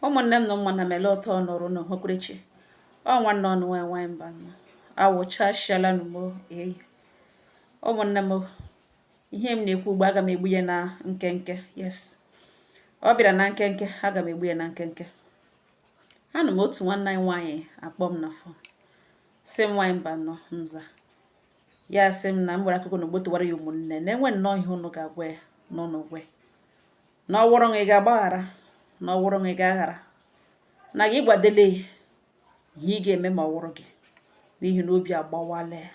ụmụnne m na ụmụnna m ele otu ọnụrụ n'ohokwerechi ọ nwanne ụnụ nwanyị nwanyị Mbanọ awụchasịala n'ọgbọ eyi ụmụnne m ihe m na-ekwu ugbo aga m egbu ya na nkenke yes ọ bịara na nkenke aga m egbu ya na nkenke anụ m otu nwanne anyị nwaanyị akpọ m na fon sị m nwaanyị Mbanọ m za ya sị m na m gbara akụkọ n'ọgbọ tụwara ya ụmụnne na e nwee nnọọ ihe ụnụ ga-agwa ya na ụnụ gwa ya na ọ wụrụ na ị ga-agbaghara na ọ wụrụ na ị ga-aghara na gị gwadele ihe ị ga-eme ma ọ wụrụ gị n'ihi na obi agbawala ya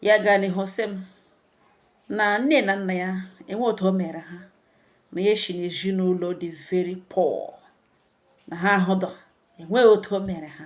ya gaa n'ihu sị m na nne na nna ya enweghị otu o mere ha na ya si n'ezinụlọ dị very poor na ha ahụdọ enweghị otu o mere ha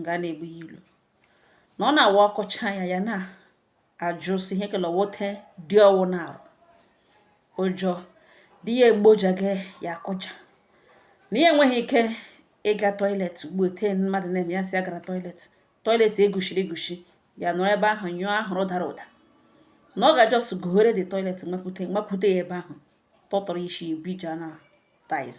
nga na-egbu ya ilu na ọ na-awa ọkọcha ya ya na-ajụsi ihe kele wote dị ọ wụ na arụ ụjọ di ya egboja gị ya akụja na ya enweghị ike ịga toilet ugbu ete mmadụ na-eme ya si ya gara toilet toilet eguchiri eguchi ya nọrọ ebe ahụ nyụọ ahụrụ dara ụda na ọ ga just gụghere the toilet mapụta mapụta ya ebe ahụ tọtọrọ isi ebije na tiles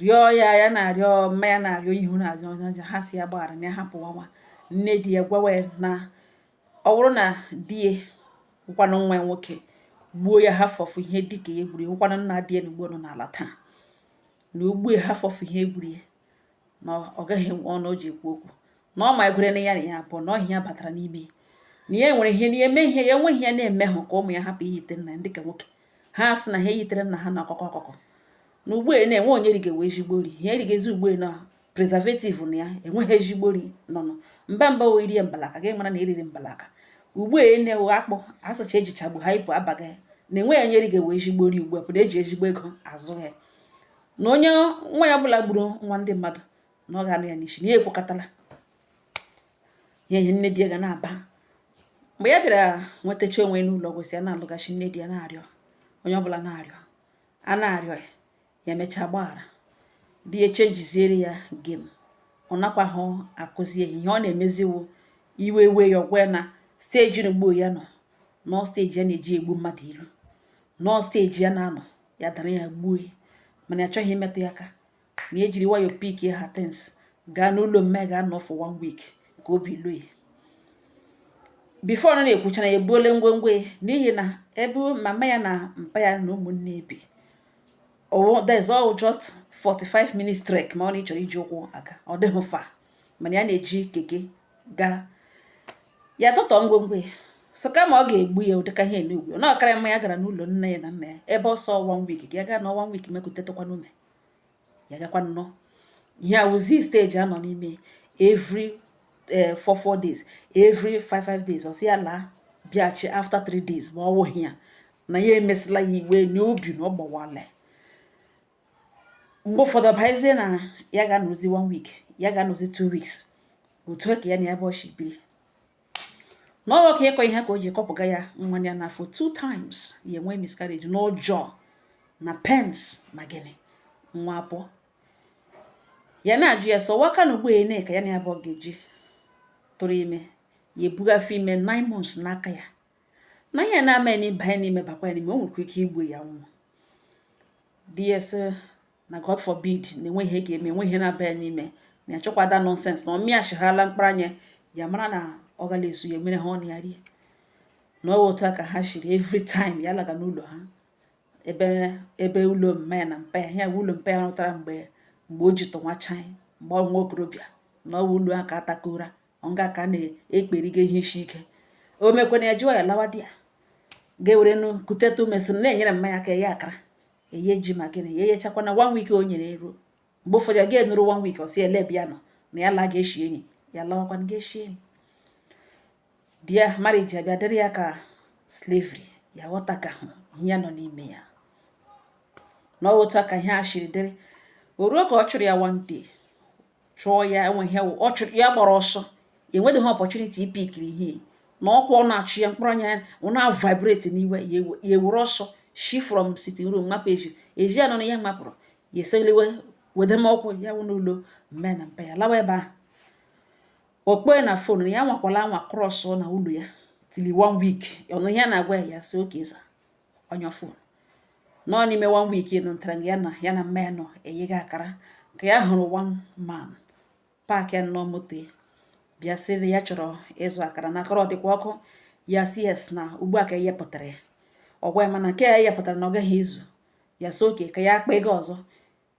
rịọ ya ya na-arịọ mma ya na-arịọ ihu na azụ ọja ha sị ya gbaghara na ya hapụ nwa nne di ya gwawa ya na ọ bụrụ na di ya wụkwanụ nwa ya nwoke gbuo ya ha fọfụ ihe dịka ya gburu wụkwanụ nna di ya na ugbo ọ nọ n'ala taa na o gbuo ya ha fọfụ ihe gburu ya na ọ gaghị enwe ọnụ o ji ekwu okwu na ọ ma ekwere na ya na ya abụọ na ọhịa ya batara n'ime na ya nwere ihe na ya eme ihe ya enweghị ya na-eme hụ ka ụmụ ya hapụ iyite nna ya dịka nwoke ha sị na ha eyitere nna ha na ọkụkọ ọkụkọ na ugbo na enweghị onye rigewe ezigbo nri ha erigezi ugbo na preservative na ya enweghị ezigbo nri nọnụ mba mba wee rie mbalaka gị mara na eriri mbalaka ugbu a na-ewe akpụ asụcha ejichagbu ha ibu abaghị na enweghị onye ri ga-ewe ezigbo nri ugbu a pụrụ eji ezigbo ego azụ ya na onye nwa ya ọbụla gburu nwa ndị mmadụ na ọ ga-anụ ya n'isi na ya ekwekọtala ya ihe nne di ya ga na-aba mgbe ya bịara nwetacha onwe n'ụlọ ọgwụ sị ya na-alụghachi nne di ya na-arịọ onye ọbụla na-arịọ a na-arịọ ya ya emechaa gbaghara di ya chenjiziere ya game ọ nakwaghị akụzi ya ihe ọ na-emezi wụ iwe wee ya ọ gwa ya na stage na ugbo ya nọ nọọ stage ya na-eji egbu mmadụ ilu nọọ stage ya na-anọ ya dara ya gbuo mana ya chọghị imetụ ya aka na ejiri wayo pick ya things gaa n'ụlọ mma ya ga nọ for one week ka obi luo ya before ọ na-ekwucha na ya ebuole ngwongwo ya n'ihi na ebe mama ya na mpa ya na ụmụnne bi ọ dị nso just 45 minutes trek ma ọ na ị chọrọ iji ụkwụ aga ọ dịghị far mana ya na-eji keke gaa ya tụtụ ngwongwo ya so kama ọ ga-egbu ya ụdịka ihe n'ugwu na ọ kara mma ya gara n'ụlọ nne ya na nna ya ebe ọ sọ one week gaa ga nọ one week ma kutetụkwana ume ya gakwa nọ ihe a wụzi stage a nọ n'ime every eh, four four days every five five days ọ sị ya laa bịachi after three days ma ọ wụghị ya na ya emesịla ya iwe n'obi na ọ gbawala mgbe ụfọdụ ọ bụzie na ya ga-anọzi one week ya ga-anọzi two weeks otu a ka ya na ya abụọ shi biri na o ruo ka ịkụ ihe ka o ji kụpụga ya nwa ya n'afọ two times ya enwee miscarriage n'ụjọ na pains na gịnị nwa abụọ ya na-ajụ ya sị nwoke a na ugbu a ene ka ya na ya abụọ ga-eji tụrụ ime ya ebugafe ime nine months n'aka ya na ihe na-ama ya n'ịbanye n'ime bakwa ya n'ime o nwekwa ike igbu ya nwụ di ya sị na god forbid na enweghị ihe ga-eme enweghị ihe na-aba ya n'ime na ya achọkwa that nonsense na ọ mịachighala mkpụrụ anya ya mara na ọ gala esu ya mere ha ọnụ ya rie na ọ otu a ka ha shiri every time ya laga n'ụlọ ha ebe ebe ụlọ mma ya na mpa ya ya bụ ụlọ mpa ya rụtara mgbe mgbe o ji tọnwacha anyị mgbe ọ nwa okorobịa na ọ wụ ụlọ ha ka atakora ọnga ka na-ekperiga ihe isi ike o mekwana ya jụọ ya lawa there ga-ewere nụ kutetụ ume siri na-enyere mma ya aka eye akara eye ji ma gịnị ya eyechakwana one week o nyere ya eruo mgbe ụfọdụ ya ga-anọru one week ọ sị ya laa bịa nọ na ya laa ga-eshi enyi ya lawakwana ga-eshi enyi their marriage abịa dịrị ya ka slavery ya aghọtakahụ ihe ya nọ n'ime ya na otu a ka ihe a shiri dịrị o ruo ka ọ chụrụ ya one day chụọ ya enweghị ọ chụrụ ya gbara ọsọ enweghị opportunity ịpickiri ihe na ọkwa ọ na-achụ ya mkpụrụ anya ọ na-vibrate n'iwe ya ewere ọsọ shi from sitting room mapụ ezi ezi ahụ na ya mapụrụ ya eseliwe wedemọkwụ ya wụ n'ụlọ mma ya na mpa ya lawa ebe ahụ ọ kpọọ ya na phone ya nwakwala anwa cross n'ụlọ ya till one week ọ nụ ihe ya na-agwa ya ya sị okay sir ọ nyụọ phone na n'ime one week nụ ntara ya na ya na mma ya nọ eyegha akara ka ya hụrụ one man parkịa nụ moto bịa sị ya chọrọ ịzụ akara na akara ọ dịkwa ọkụ ya sị yes na ugbu a ka eyepụtara ya ọ gwa ya mana nke ya eyepụtara na ọ gaghị ezu ya sị okay ka ya akpa ego ọzọ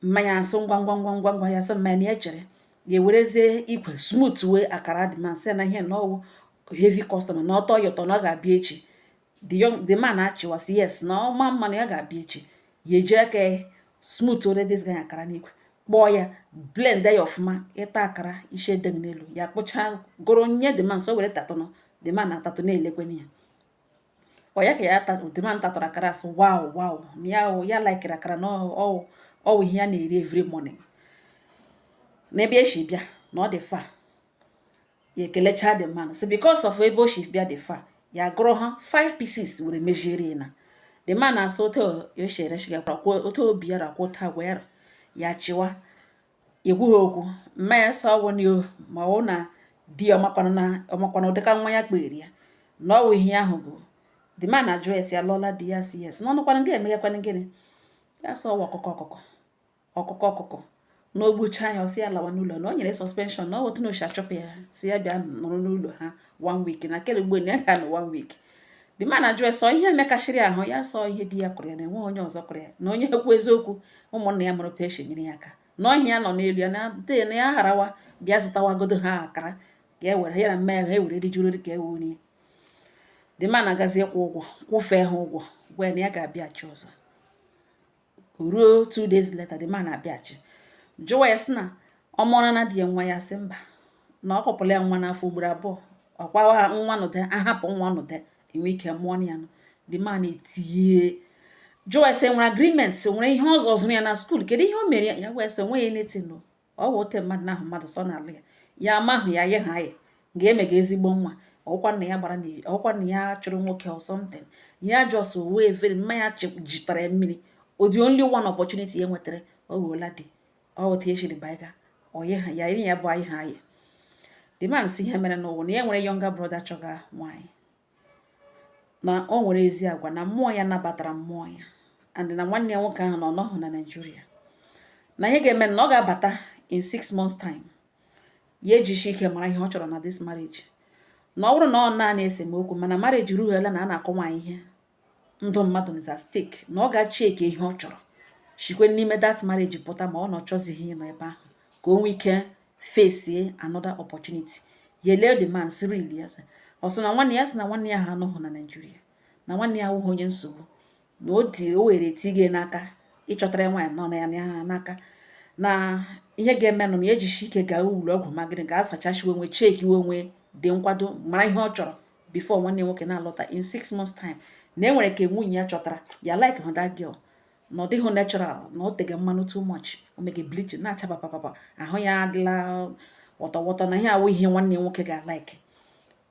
mama ya asị ngwa ngwa ngwa ngwa ngwa ya sị mama ya na ya chere ya ewerezie ikwe smooth wee akara the man sị ya na ihe na ọwụ heavy customer na ọtọ ya ụtọ na ọ ga-abịa echi the young the man achịwa sị yes na ọ ma mma na ya ga-abịa echi ya eji aka ya smooth ore this guy akara n'ikwe kpọọ ya blend ya ọfụma ịta akara isi adịghị n'elu ya kpụchaa goro nye the man sị ọ were tatụnụ the man na-atatụ na-elekwenye ya ọ ya ka ya the man tatụrụ akara asị wow wow na ya ya laikere akara na ọwụ ihe ya na-eri every morning n'ebe o si bịa na ọ dị far ya ekelecha the man sị because of ebe o si bịa dị far ya gụrụ ha 5 pieces were mejiere na the man asị otu o si ereshigakwara otu obi ya rakwụ ụta gwara ya chịwa ekwughị okwu mama ya sị ọwụ na o- ma ọ wụ na di ya ọmakwanụ na ọmakwanụ ụdịka nwa ya kpeere ya na ọwụ ihe ahụ bụ the man ajụ ya sị ya lụọla di ya sị yes na ọ nọkwanụ nga emeghakwanụ gịnị ya sị ọwụ ọkụkụ ọkụkụ ọkụkụ ọkụkụ na o gbuchaa ya ọ sị ya lawa n'ụlọ na o nyere suspension na ọ wụ otu ọ na-eshi achụpụ ya sị ya bịa nọrọ n'ụlọ ha one week na kele ugbo na ya ga-anọ one week the man ajụ ya sị ọ ihe mekashịrị ahụ ya sị ọ ihe di ya kụrụ ya na enweghị onye ọzọ kụrụ ya na onye ekwu eziokwu ụmụnna ya mụrụ peshi nyere ya aka na ọ ihe ya nọ n'elu ya na na ya harawa bịa zụtawagodo ha akara ka e were ya na mama ya ha ewere rijuru ka e wurie the man agazie kwụ ụgwọ kwụfee ha ụgwọ gwa ya na ya ga-abịachi ọzọ ruo two days later the man abịachi jụwa ya sị na ọ mụọla na di ya nwa ya sị mba na ọ kụpụla ya nwa n'afọ ugboro abụọ ọkwa a ha nwa n'udo a hapụ nwa n'udo e nwee ike mụọ ya nụ the man etinye jụwa ya sị e nwere agreement sị o nwere ihe ọzọ zụrụ ya na school kedu ihe o mere ya ya wee sị o nweghị anything ọ bụ otu mmadụ na-ahụ mmadụ sị ọ na-alụ ya ya amahụ ya ye ha ya ga-eme ga ezigbo nwa ọkwa na ya gbara ọkwa na ya chụrụ nwoke or something ya just wee veri mama ya jitara ya mmiri ọ the only one opportunity ya nwetara ọ wụola di ọ wụ otu ya shiri baiga oye ha ya ya bụ anyị ha ya the man sị ihe merenụ wụ na ya nwere younger brother chọga nwaanyị na o nwere ezi agwa na mmụọ ya nabatara mmụọ ya and na nwanne ya nwoke ahụ na ọ nọghị na Naịjirịa na ihe ga-eme na ọ ga-abata in six months time ya ejisi ike mara ihe ọ chọrọ na this marriage na ọ bụrụ na ọ naanị esemokwu mana marriage rughela na a na-akụ nwaanyị ihe ndụ mmadụ is at stake na ọ ga-echeki ihe ọ chọrọ shikwe n'ime that marriage pụta ma ọ na ọ chọzighị ịnọ ebe ahụ ka o nwee ike face another opportunity ya elee the man sị really ya asị na nwanne ya sị na nwanne ya ha anọghị na Naịjirịa na nwanne ya awụghị onye nsogbu na ọ dị o were tinye n'aka ịchọtara ya nwaanyị nọ na ya n'aka na ihe ga-emenụ na ya ejishi ike gaa ụlọ ọgwụ magịrị ga asachachiwe onwe chekiwe onwe dị nkwado mara ihe ọ chọrọ before nwanne nwoke na-alọta in six months time na e nwere ka nwunye ya chọtara ya like hụ that girl na ọ dịghị natural na ọ tege mmanụ too much o mege bleaching na-acha papapapa ahụ ya adịla wọtọwọtọ na ihe awụ ihe nwanne nwoke ga-alike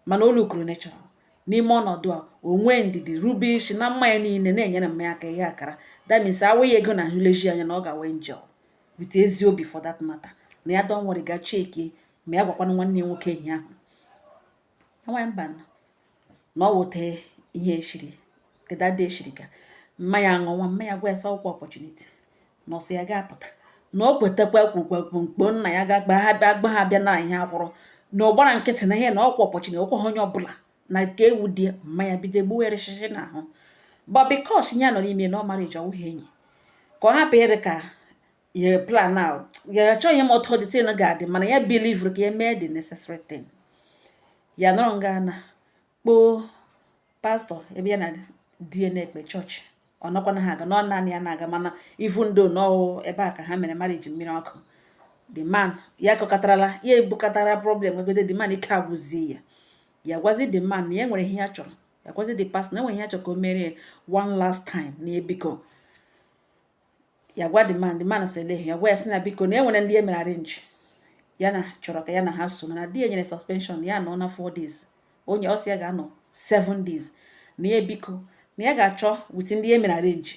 mana o lookuru natural n'ime ọnọdụ a o nwee ndidi rube isi na mma ya niile na-enyere mma ya aka ihe akara that means awụghị ego na nleji anya na ọ ga-awụ angel with ezi obi for that matter na ya don't worry ga-achecki ma ya agwakwana nwanne nwoke ihe ahụ nwaanyị mba na o wote ihe eshiri keda dị eshiri ka mma ya ṅụwa mma ya gwa ya sị ọkwa opportunity na ọsọ ya ga-apụta na o kwetakwa kwukwekwu mkpo nna ya ga-agba ha bịa gba ha bịa na ihe akwụrụ na ọ gbara nkịtị na ihe na ọkwa opportunity na okwe ha onye ọbụla na nke ewu dị mma ya bido gbuo erịchịchị n'ahụ but because ya nọ n'ime na ọ marriage ọwụghị enyi ka ọ hapụ ịrị ka ya plan na ya achọghị ịma otu the thing ga-adị mana ya believe ka ya mee the necessary thing ya nọrọ nga na kpọọ pastor ebe ya na di na-ekpe church ọ nọkwana ha aga na ọ naanị ya na-aga mana even though na ọ ebe a ka ha mere marriage mmiri ọkụ the man ya kọkatarala ya ebukatara problem megode the man ike agwụzi ya ya gwazi the man na ya nwere ihe ya chọrọ ya gwazi the pastor na enwere ihe ya chọrọ ka o meere one last time na biko ya gwa the man the man sị olee ihe ya gwa ya sị na biko na enwere ndị e mere arrange ya na chọrọ ka ya na ha so na di ya nyere suspension ya nọ na 4 days onye ọsị ya ga-anọ 7 days na ya biko na ya ga-achọ with ndị ya mere arrange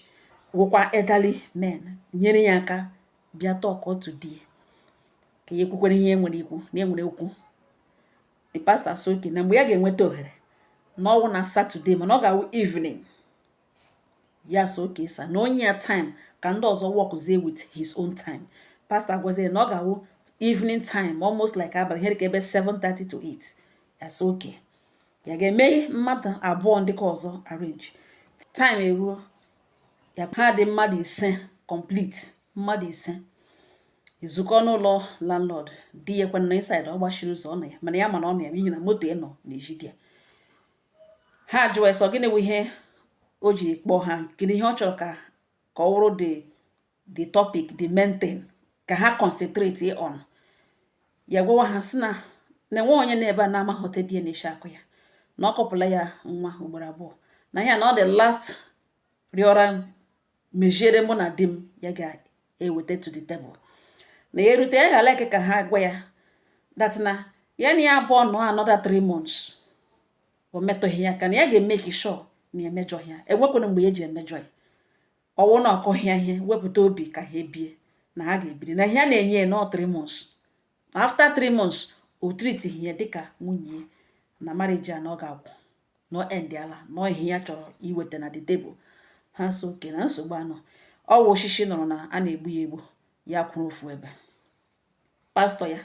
wụkwa elderly men nyere ya aka bịa talk to di ka ya ekwukwere ihe enwere ikwu na enwere okwu the pastor sị okay na mgbe ya ga-enweta ohere na ọ wụ na Saturday mana ọ ga-awụ evening ya sị okay sir na o nye ya time ka ndị ọzọ workzie with his own time pastor agwazie na ọ ga-awụ evening time almost like abalị ihe dịka ebe 7:30 to 8 ya sị okay ya ga-eme mmadụ abụọ ndị nke ọzọ arrange time eruo ya ha dị mmadụ ise complete mmadụ ise ezukọọ n'ụlọ landlord di ya kwana na inside ọ gbachiri ụzọ ọ na ya mana ya ma na ọ nọ ya n'ihi na moto ya nọ n'ezi di ya ha jụọ sị gịnị bụ ihe o ji kpọọ ha gịnị ihe ọ chọrọ ka ka ọ wụrụ the the topic the main thing ka ha concentrate on ya gwawa ha sị na na enwe onye nọ ebe a na-amaghị otu di ya na-esi akụ ya na ọ kụpụla ya nwa ugboro abụọ na ya na ọ the last rịọra m meziere mụ na di m ya ga-eweta to the table na ya erute ya ga ka ha gwa ya that na ya na ya abụọ nọ another three months o metụghị ya aka na ya ga-emake sure na emejọghị ya enwekwana mgbe ya ji emejọ ya ọ wụ na ọkọhịa ihe wepụta obi ka ha bie na ha ga-ebiri na ihe a na-enye ya na ọ three months na after three months o tritighị ya dịka nwunye ya na marriage a na ọ ga-agwụ na ọ endịala na ọ ihe ya chọrọ iweta na the table ha sị okay na nsogbu anọ ọ wụ oshishi nụrụ na a na-egbu ya egbu ya kwụrụ ofu ebe pastọ ya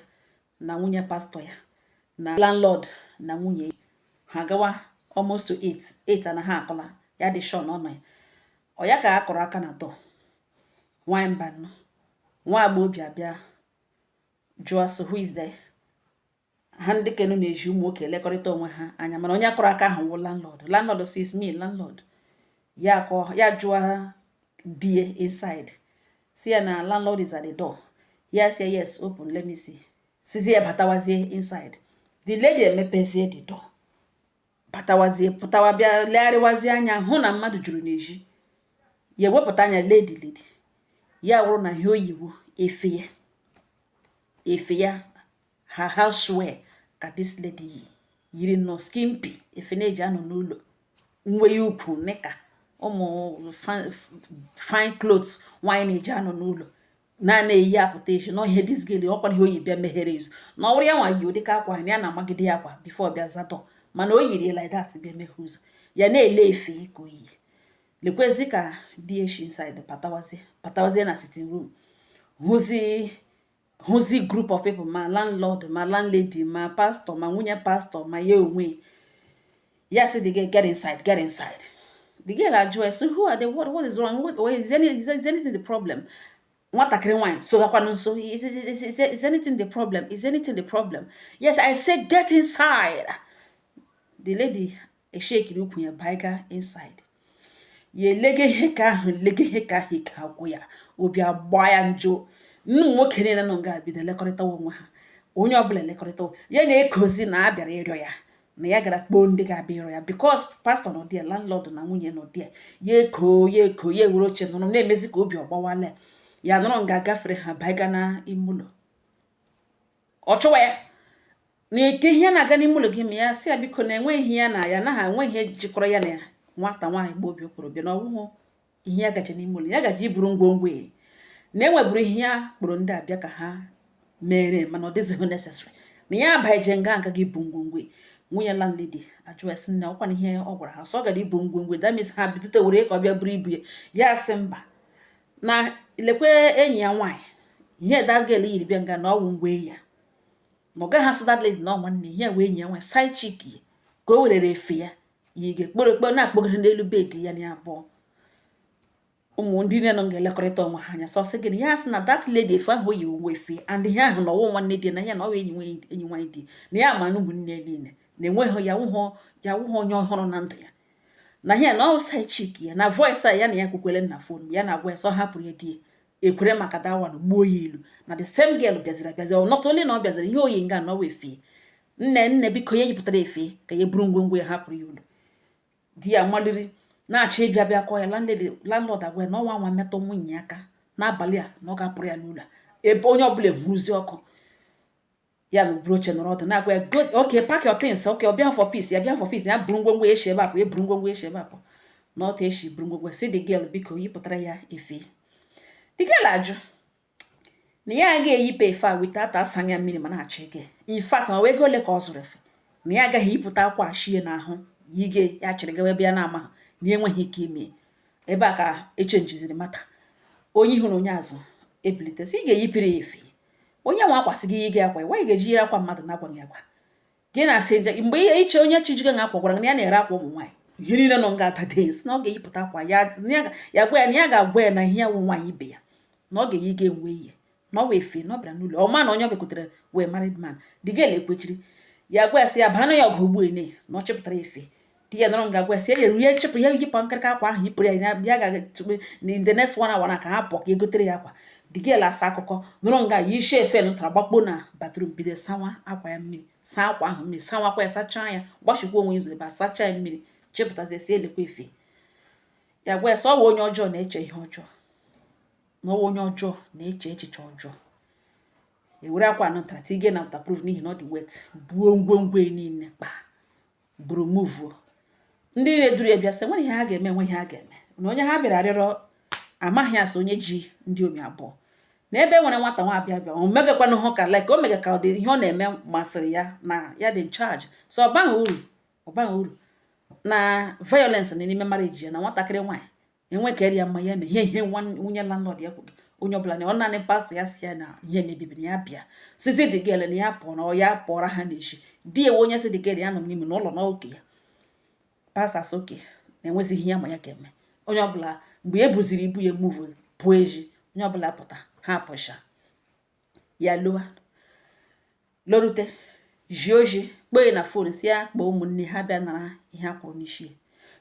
na nwunye pastọ ya na landlord na nwunye ha gawa almost to eight eight na ha akọla ya dị sure na ọ nọ ya ọ ya ka a kụrụ aka na door nwanyị mbanụ nwa agbọghọbịa abịa jụọ sị who is there ha ndị ke nọ n'ezi ụmụ nwoke elekọrịta onwe ha anya mana onye kụrụ aka ahụ wụ landlord landlord sị is me landlord ya akọ ya jụọ di e inside sị ya na landlord is at the door ya sị yes open let me see sịzie batawazie inside the lady emepezie the door pụtawazie pụtawa bịa legharịwazie anya hụ na mmadụ juru n'ezi ya ewepụta anya lee the lady ya wụrụ na ihe o yi wụ efe ya efe ya her housewear ka this lady yi yiri nnọọ skimpy efe na-eji anọ n'ụlọ nwe ya ụkwụ nịka ụmụ fine clothes nwaanyị na-eji anọ n'ụlọ na na-eyi apụta ezi na ihe this girl ọkwa ihe o yi bịa meghere ụzọ na ọ wụrụ ya nwa yi ụdị ka akwa na ya na-amagide ya akwa before bịa zaa door mana o yiri like that bịa meghe ụzọ ya na-ele efe ka o yi lekwazi ka di e shi inside pụtawazie pụtawazie na sitting room hụzi hụzi group of people ma landlord ma landlady ma pastọ ma nwunye pastọ ma ya onwe ya sị the girl get inside get inside the girl ajụọ sị who are they what, what is wrong what, what is, any, is, is anything the problem nwatakịrị nwaanyị sụgakwanụ nsụ is, is, is, is, is anything the problem is anything the problem ya sị i say get inside the lady ashekiri ukwu ya baiga inside ya elega ihe ka ahụ lega ihe ka ahụ ike agwụ ya obi agba ya njọ ụmụ nwoke niile nọ nga bido elekọrịtawa onwe ha onye ọbụla elekọrịtawa ya na-ekozi na a bịara ịrịọ ya na ya gara kpọọ ndị ga-abịa ịrịọ ya because pastọ nọ there landlord na nwunye nọ there ya eko ya eko ya ewere oche nọrọ na-emezi ka obi ọ gbawala ya nọrọ nga gafere ha baiga na ime ụlọ ọ jụwa ya na kee ihe na-aga n'ime ụlọ ga-eme ya sị ya biko na enweghị ihe ya na ya na ha enweghị ihe jikọrọ ya na ya nwata nwaanyị agbọghọbịa ọ kpọrọ bịa na ọgwụhụ ihe ya gaje n'ime ụlọ ya gaje iburu ngwongwo ya na e nweburu ihe ya kpọrọ ndị a bịa ka ha mere mana ọ dịzighị necessary na ya abaije nga a ga ibu ngwongwo nwunye landlady ajụwa sị nne ọkwa na ihe ọ gwara ha sị ọ gara ibu ngwongwo that means ha bidota were ka ọ bịa buru ibu ya ya sị mba na lekwe enyi ya nwaanyị ihe that girl yiri bịa nga na ọ wụ ngwa ya na ọ gaghị asị that lady na ọ nwanne ihe wee enyi ya nwaanyị side chick ya ka o werere efe ya yi ga-ekporo ekporo na-akpọgara n'elu bed ya na abụọ ụmụ ndị nne nọ ga-elekọrịta onwe ha anya sọ sị gịnị ya sị na that lady efe ahụ yi uwe efe and ihe ahụ na ọ wụ nwanne di na ya na ọwa enyi enyi nwaanyị di na ya ma na ụmụnne niile na enweghị ya wụhụ ya wụhụ onye ọhụrụ na ndụ ya na ihe na ọ side chick ya na voice a ya na ya kwukwere na phone ya na-agwa ya sọ hapụrụ ya di ya ekwere maka that one gbuo ya ilu na the same girl bịaziri abịazi not only na ọ bịaziri ihe o yi nga na ọwa efe nne nne biko ya yipụtara efe ka ya buru ngwongwo ya hapụrụ ya ụlọ di ya maliri na-achọ ịbịa bịa kụọ ya landlord agwa ya na ọ nwaa anwa metụ nwunye aka n'abalị a na ọ ga-apụrụ ya n'ụlọ ebe onye ọbụla eburuzi ọkụ ya na buru oche nọrọ ọdụ na-agwa ya go okay pack your things okay ọ bịa for peace ya bịa for peace na ya buru ngwongwo eshi ebe apụ ya buru ngwongwo eshi ebe apụ na ọta eshi buru ngwongwo sị the girl biko yipụtara ya efe the girl ajụ na ya agaghị eyipe efe a without asa ya mmiri ma na-achọ ike in fact ma wee ego ole ka ọ zụrụ efe na ya agaghị eyipụta akwa ashie n'ahụ yige ya chịrị gawa ebe ya na-ama na enweghị ike ime ebe a ka echenjiziri matter onye ihu na onye azụ ebilite sị ị ga-eyipere ya efe onye nwe akwa sị gị yige akwa ya nwaanyị ga-eji yiri akwa mmadụ na-agwaghị agwa gị na-asị nje mgbe ihe iche onye chi jiga akwa gwara na ya na-ere akwa ụmụ nwaanyị ihe niile nọ nga that day sị na ọ ga-eyipụta akwa ya ya gwa ya na ya ga-agwa ya na ihe ya wụ nwaanyị ibe ya na ọ ga-eyi ga enwe ihe na ọ wee efe na ọ bịara n'ụlọ ọ ma na onye ọ bịakwutere wee married man the girl elekwechiri ya gwa ya sị ya baa na ya ọgụ ugbu ene na ọ chịpụtara efe di ya nọrọ nga gwa sị ya rie chịpụ ya yipụ nkịrịka akwa ahụ yipụrụ ya ya gaa tụpe in the next one hour na ka ha pụọ ka e gotere ya akwa the girl asị akụkọ nọrọ nga ya isi efe nụtara gbakpo na bathroom bido sawa akwa ya mmiri saa akwa ahụ mmiri sawa akwa ya sachaa ya gbachikwa onwe ụzọ ebe a sachaa ya mmiri chịpụtazie sị lekwa efe ya gwa ya sị ọwa onye ọjọọ na-eche ihe ọjọọ na ọwa onye ọjọọ na-eche echiche ọjọọ ewere akwa nụtara tige na waterproof n'ihi na ọ dị wet buo ngwongwo niile kpaa buru muvuo ndị niile duru ya bịa sị nwere ihe ha ga-eme nwe ihe ha ga-eme na onye ha bịara arịọrọ amaghị asị onye ji ndị omi abụọ na ebe e nwere nwata nwa abịa bịa o megakwanụ ka like o mega ka ọ dị ihe ọ na-eme masịrị ya na ya dị in charge so ọ baghị uru ọ baghị uru na violence na n'ime marriage ya na nwatakịrị nwaanyị enwe ka eri ya mma ya eme ihe ihe nwunye landlord ya kwuru onye ọbụla na ọ naanị pastọ ya sị ya na ihe mebibiri ya bịa sịzie the girl na ya pụọ na ọ ya pụọra ha n'echi di enwe onye sị the girl ya nọ n'ime n'ụlọ nke ya pastọ asị okay na enwezighị ihe ya ma ya ga-eme onye ọbụla mgbe e buziri ibu ya muvu pụọ eji onye ọbụla pụta ha pụcha ya lọwa lorute ji oji kpọọ ya na fon sị ya kpọọ ụmụnne ha bịa nara ihe a kwụrụ n'isi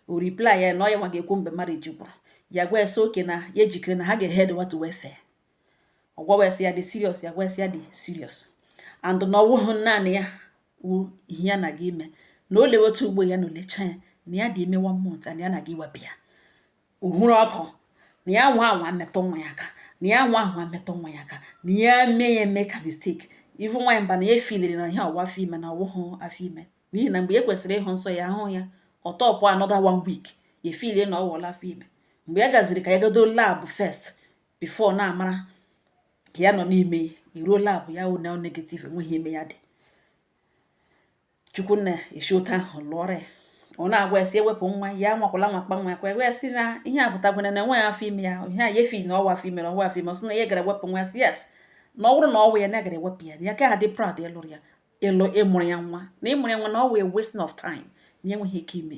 o reply ya na ọ ya nwa ga-ekwu mgbe marriage gwụrụ ya gwa ya sị okay na ya ejikere na ha ga-eheadwa to welfare ọ gwawa ya sị ya dị serious ya gwa ya sị ya dị serious and na ọ wụhụ naanị ya wụ ihe ya na-aga ime na o lewe otu ugbu a na o lecha ya na ya dị ime one month and ya na-aga iwepụ ya uhuru ọkụ na ya nwa anwa metụ nwa ya aka na ya nwa anwa metụ nwa ya aka na ya mee ya eme ka mistake even nwaanyị mba na ya efiliri na ihe ọ wụ afọ ime na ọ wụhụ afọ ime n'ihi na mgbe ya kwesịrị ịhụ nsọ ya ahụ ya ọ top another one week ya efilie na ọ wụla afọ ime mgbe ya gaziri ka ya gado lab first before na-amara ka ya nọ n'ime iruo lab ya wụ na negative enweghị ime ya dị chukwu nna esi otu ahụ lụọrọ ya ọ na-agwa ya sị iwepụ nwa ya nwakwala anwa kpa nwa ya aka wee sị na ihe a pụtagwena na enweghị afọ ime ya ihe a ya efili na ọ wụ afọ ime na ọ wụ afọ ime ọ sị na ya gara iwepụ nwa ya sị yes na ọ bụrụ na ọ wụ ya na ọ gara ewepụ ya ya ka ha dị proud ịlụrụ ya ịlụ ịmụrụ ya nwa na ịmụrụ ya nwa na ọ wụ a wasting of time na enweghị ike ime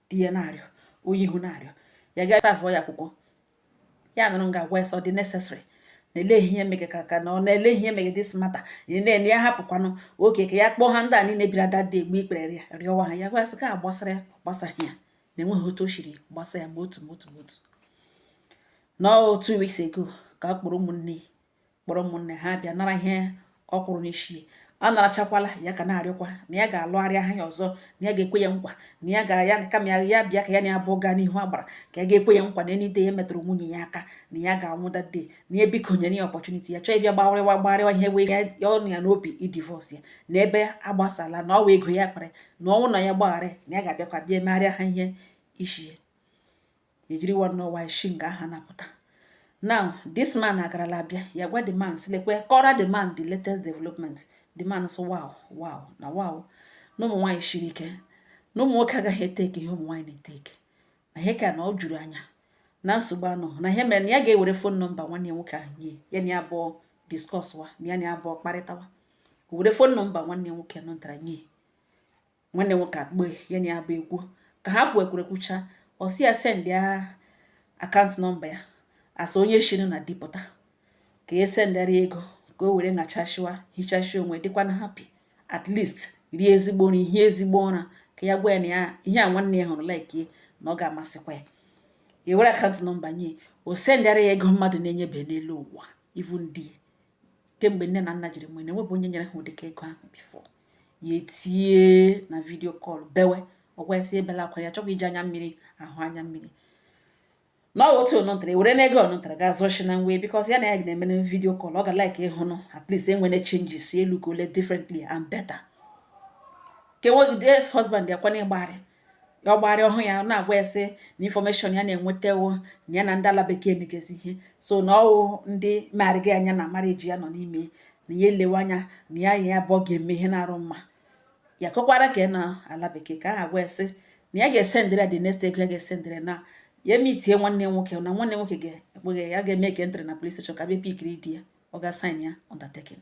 di ya na-arịọ onye ahụ na-arịọ ya ga savụọ ya akwụkwọ ya nụrụ m ga-agwa ya sị ọ dị necessary na-ele ihe mege ka ka na ọ na-ele ihe mege this matter na-ele ya hapụkwanụ okay ka ya kpọọ ha ndị a niile bịara that day egbuo ikpere ya rịọwa ha ya gwa sị ka a gbasara ya gbasaghị ya na enweghị otu o siri gbasa ya ma otu ma otu ma otu na two weeks ago ka a kpọrọ ụmụnne kpọrọ ụmụnne ha bịa nara ihe ọ kwụrụ n'isi a narachakwala ya ka na-arịọkwa na ya ga-alụgharị aha ya ọzọ na ya ga-ekwe ya nkwa na ya ga-ya kama ya bịa ka ya na ya abụọ gaa n'ihu agbara ka ya ga-ekwe ya nkwa na any day ya metụrụ nwunye ya aka na ya ga-anwụ that day na ya biko nyere ya opportunity ya chọọ ịbịa gbarịwa gbarịwa ihe wee ya ọnụ ya n'obi ịdivorce ya na ebe agbasala na ọ wụ ego ya kpere na ọnwụ na ya gbagharị na ya ga-abịakwa bịa megharịa ha ihe isi ejiri nwanne ọwa shi nga ahụ na-apụta now this man agarala abịa ya gwa the man sị lekwe kọọrọ the man the latest development the man so wow wow na wow na ụmụ nwaanyị shiri ike na ụmụ nwoke agaghị etake ihe ụmụ nwaanyị na-etake na ihe ka na ọ juru anya na nsogbu anọ na ihe mere na ya ga-ewere fon nọmba nwanne ya nwoke ahụ nye ya na ya abụọ discusswa na ya na ya abụọ kparịtawa o were fon nọmba nwanne ya nwoke nọntara nye nwanne nwoke akpọọ ya na ya abụọ ekwuo ka ha kwukọrọ kwucha ọ sị ya send ya akaụntụ nọmba ya as onye shiri na di pụta ka ya sendara ego ka o were ṅachashiwa hichashia onwe dịkwa na happy at least rie ezigbo nri hie ezigbo ụra ka ya gwa ya na ya ihe a nwanne ya hụrụ like na ọ ga-amasịkwa ya ewere akaụntụ nọmba nye o sendara ya ego mmadụ na-enyebe n'elu ụwa even ndị kemgbe nne na nna jiri nwee na-enwebụ onye nyere ha ụdịka ego ahụ before ya etie na video call bewe ọ gwa ya sị ebela akwa ya chọkwa iji anya mmiri ahụ anya mmiri na ọ otu ọnụntara e were na ego ọnụntara ga azụ shi na nwe because ya na ya na-eme na video call ọ ga like ịhụnụ at least enwere changes elu ka ole differently and better ka enweghị the ex husband ya kwana ịgbarị ya ọgbarị ọhụ ya na-agwa ya sị na information ya na-enwetawo na ya na ndị ala bekee megezi ihe so na ọ wụ ndị megharịga anya na marriage ya nọ n'ime na ya elewe anya na ya abụọ ga-eme ihe na-arụ mma ya kọkwara ka ya na ala bekee ka ha agwa ya sị na ya ga-esendịrị ya the next ego ya ga-esendịrị na ya emeetie nwanne nwoke na nwanne nwoke ga-ekpeghe ya ga-eme ka entry na police station ka bịa pickiri di ya ọ ga-asign ya undertaking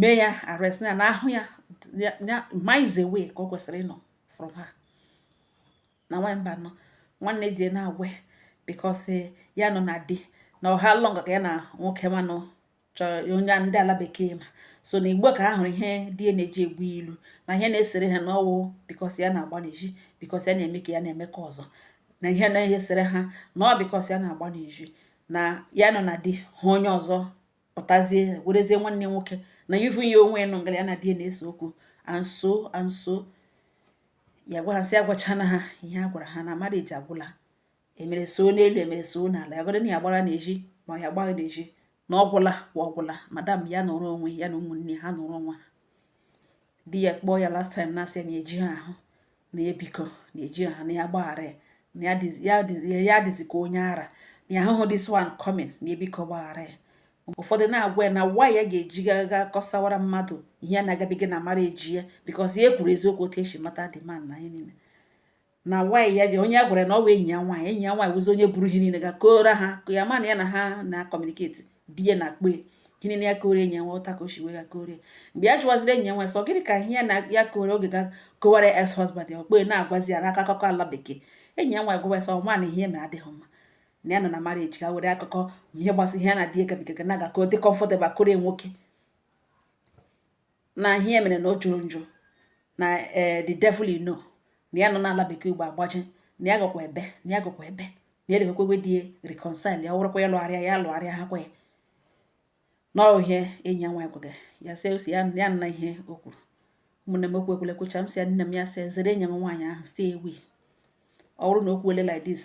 mee ya arrest na na ahụ ya miles away ka ọ kwesịrị ịnọ from ha na nwaanyị mba nọ nwanne di na-agwa because eh, ya nọ na di na ọ how long ka ya na nwoke manụ chọrọ onye ndị ala bekee ma so na igbo ka ha hụrụ ihe di na-eji egwu ilu na ihe na-esere ha na ọ wụ because ya na-agba n'ezi because ya na-eme ka ya na-eme ka ọzọ na ihe na-esere ha na ọ because ya na-agba n'ezi na ya nọ na di hụ onye ọzọ pụtazie werezie nwanne nwoke na even ya onwe nọ ngara ya na di na-ese okwu and so and so ya gwa ha sị agwachana ha ihe a gwara ha na marriage agwụla e mere so n'elu e mere so n'ala ya gọdị na ya gbara n'ezi ma ya gbaghị n'ezi na ọ gwụla wa ọ gwụla madam ya nọrọ onwe ya na ụmụnne ha nọrọ onwe ha di ya kpọọ ya last time na-asị ya na eji ha ahụ na ya biko na eji ha na ya gbaghara ya na ya adịzi ka onye ara na ya ahụhụ this one coming na ya biko gbaghara ya ụfọdụ na-agwa ya na nwa ya ga-eji gaga kọsawara mmadụ ihe a na-agabiga na marriage ya because ya kwuru eziokwu otu e si mata the man na ihe niile na nwaanyị ya ji onye a gwara na ọ bụ enyi ya nwaanyị enyi ya nwaanyị wụzi onye buru ihe niile ga kọọra ha ka ya ma na ya na ha na-acommunicate di ya na kpe gịnị na ya kọọrọ enyi nwe ụta ka o si wee ga kọọrọ mgbe ya jụwaziri enyi nwe sị ọ gịnị ka ihe ya na ya kọrọ oge ga kọwara ex husband ya okpe na-agwazi ya n'aka akụkọ ala bekee enyi ya nwe gwawa sọ nwa na ihe mere adịghị mma na ya nọ na marriage ka were akụkọ ihe gbasara ihe ya na di ya gabigaga na-aga ka ọ dị comfortable kọọrọ nwoke na ihe e mere na ọ jọrọ njọ na ee the devil you know na ya nọ n'ala bekee ugbo agbaji na ya gakwa ebe na ya gakwa ebe na ya lekwekwe di ya reconcile ya ọ bụrụkwa ya lụgharịa ya lụgharịa ha kwa ya na ọ ihe enyi ya nwaanyị gwaga ya sị ọ sị ya ya nna ihe o kwuru ụmụnne m okwu ekwele kwucha m sị ya nne m ya sị zere enyi m nwaanyị ahụ stay away ọ bụrụ na o kwuole like this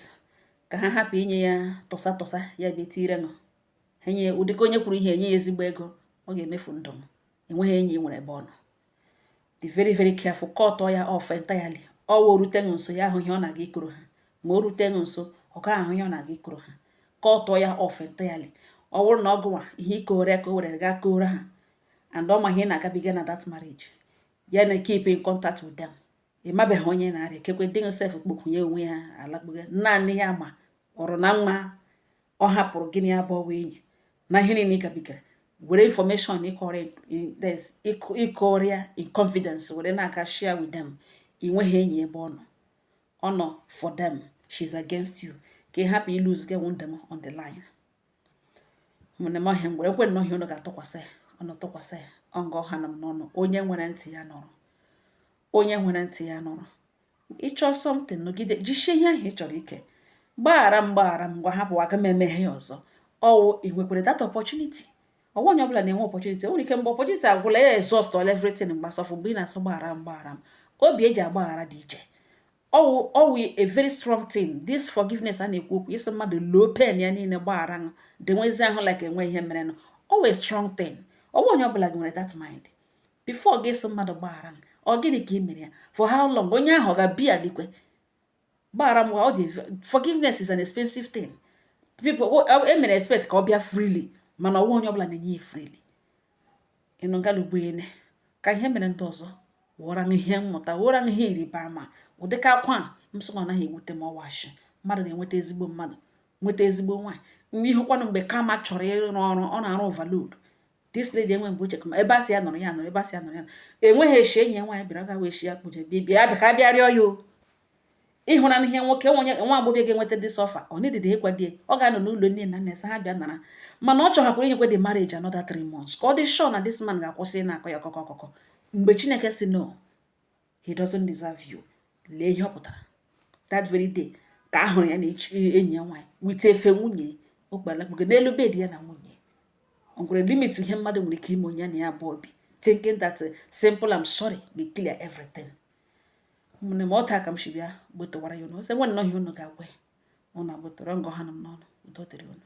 ka ha hapụ inye ya tọsa tọsa ya bịa tiire nụ enye ụdịka onye kwuru ihe enye ya ezigbo ego ọ ga-emefu ndụ m enweghị enyi nwere ebe ọ nọ dị very very careful cut ya off entirely ọ wụ o rute ṅụ nso ya ahụ ihe ọ na-aga ịkọrọ ha ma o rute ṅụ nso ọ gaghị ahụ ihe ọ na-aga ịkọrọ ha cut ya off entirely ọ bụrụ na ọ gụwa ihe ị kọrọ ya ka o were gaa kọọrọ ha and ọ ma ihe na-agabiga na that marriage ya na keep in contact with them ị mabeghị onye na-arịa ekekwe dị sef kpokwunye onwe ya alakpuga naanị ya ma ọrụ na nwa ọ hapụrụ gị na ya bụ enyi na ihe niile ị gabigara were information ị kọọrọ ya in confidence were na-aga share with them ị nweghị enyi ebe ọ nọ ọ nọ for them she's against you ka ị hapụ ilose gị nwunde m on the line ụmụnne m ọ ihe a ngwere ekwe nnọọ ihe unu ga-atụkwasị ya ọnụ tụkwasị ya ọ nga ọ ha nọ m n'ọnụ onye nwere ntị ya nụrụ onye nwere ntị ya nụrụ ị chọọ something nọgide jisie ihe ahụ ị chọrọ ike gbaghara m gbaghara m ngwa hapụ aga m emeghị ya ọzọ ọ wụ ị nwekwara that opportunity ọ wụghị onye ọbụla na-enwe opportunity nwere ike mgbe opportunity agwụla ya exhaust all everything mgbasọfụ mgbe ị na-asị gbaghara m gbaghara m obi e ji agbaghara dị iche ọ wụ ọ wụ a very strong thing this forgiveness a na-ekwu okwu ịsị mmadụ loo pain ya niile gbaghara m dị nwezi ahụ like enweghị ihe merenụ ọ wụ a strong thing ọ wụghị onye ọbụla nwere that mind before gị asị mmadụ gbaghara m ọ gịnị ka ị mere ya for how long onye ahụ ọ ga-abịa like gbaghara m ọ dị forgiveness is an expensive thing people e mere expect ka ọ bịa freely mana ọ wụghị onye ọbụla na-enye ya freely ịnụ ngalugbuene ka ihe mere ndị ọzọ wụra m ihe mmụta wụra m ihe ịrịba ama ụdịka akwa a m sị na ọ naghị ewute m ọ wụ a shị mmadụ na-enweta ezigbo mmadụ nweta ezigbo nwaanyị mgbe ị hụkwanụ mgbe karma chọrọ ịrụ ọrụ ọ na-arụ overload this lady enwe mgbe uche kama ebe a sị ya nọrọ ya nọrọ ebe a sị ya nọrọ ya enweghị eshi enyi ya nwaanyị bịara gawa eshi ya kpụje bịa bịa bịa ka bịa rịọ ya o ị hụra ihe nwoke nwenye nwa agbọghọ ga-enweta dị suffer ọ nidide ịkwa di ọ ga-anọ n'ụlọ nne na nna asị ha bịa nara mana ọ chọhakwara inyekwa the marriage another three months ka ọ dị sure na this man ga-akwụsị na-akụ ya ọkụkụ ọkụkụ mgbe chineke sị no he doesn't deserve you lee ihe ọ pụtara that very day ka a hụrụ ya na enyi ya nwaanyị yiri efe nwunye o kpalakpugo n'elu bed ya na nwunye o nwere limit ihe mmadụ nwere ike ime onye na ya abụọ bi thinking that uh, simple I'm sorry will clear everything ụmụnne m ọ otu a ka m si bịa gbetọwara ya ụnụ sị nwee nnọọ ihe ụnụ ga-agwa ya ụnụ agbetọrọ nga ọ ha nọ m n'ọnụ udo dịrị ụnụ